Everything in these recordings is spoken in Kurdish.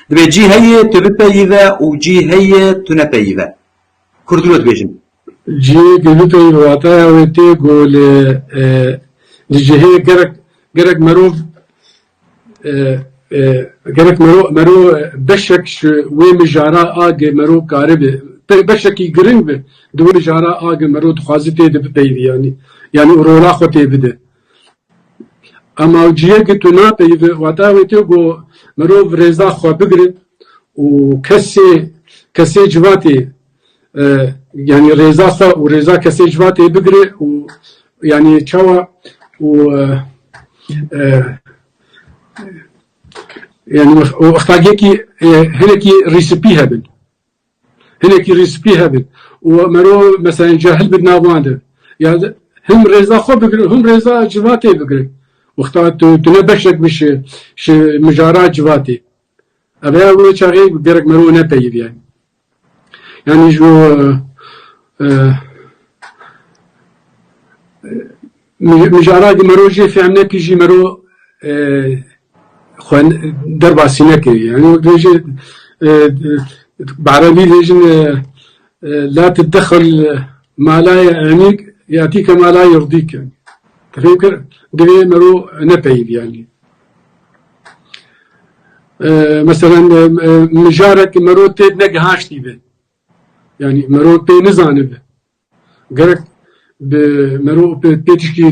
Divê cî heye tu bipeyîve û cî heye tu nepeyîve. Kurd dilo dibêjin. Cî ku bipeyîve wataya wê tê ku li di cihê gerek gerek merov gerek merov merov beşek ji wê mijara a ku merov karibe beşekî giring be di wê mijara a ku merov dixwaze tê de bipeyîve yanî yanî rola xwe tê bide. Amavciyê ku tu napeyivî wata wê tê ku mirov rêza xwe bigire û kesê kesê civatê yanî rêza xwe û rêza kesê civatê bigire û yanî çawa û yanî ixtagekî hinekî rîsipî hebin. Hinekî rîz spî hebin û mero meselên cahil bin nav wan de. Ya him rêza xwe bigirin û him rêza civatê bigirin. Wexta tu tu ne beşek bî ji ji mijara civatê. Ev ya wê çaxê gerek mero nepeyivîye. Yanî ji bo Mijara ku mero jê fehm nekir jî mero xwe derbasî nekir. Yanî wek dibêjin bi erebî dibêjin La tiddexil malayê enîk yatîke malayê rdîk. Difêm kir? Divê mero nepeyivî yanî. Meselen mijarek mero têd negihaştî be. Yanî mero pê nizanibe. Gerek bi merov pê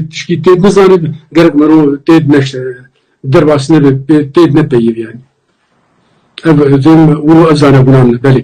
tişkî têd nizanê, gerek merov têd neşte derbas nebe pê têd nepeyivî yanî. Ev zênî min û ev zanebûna min e belê.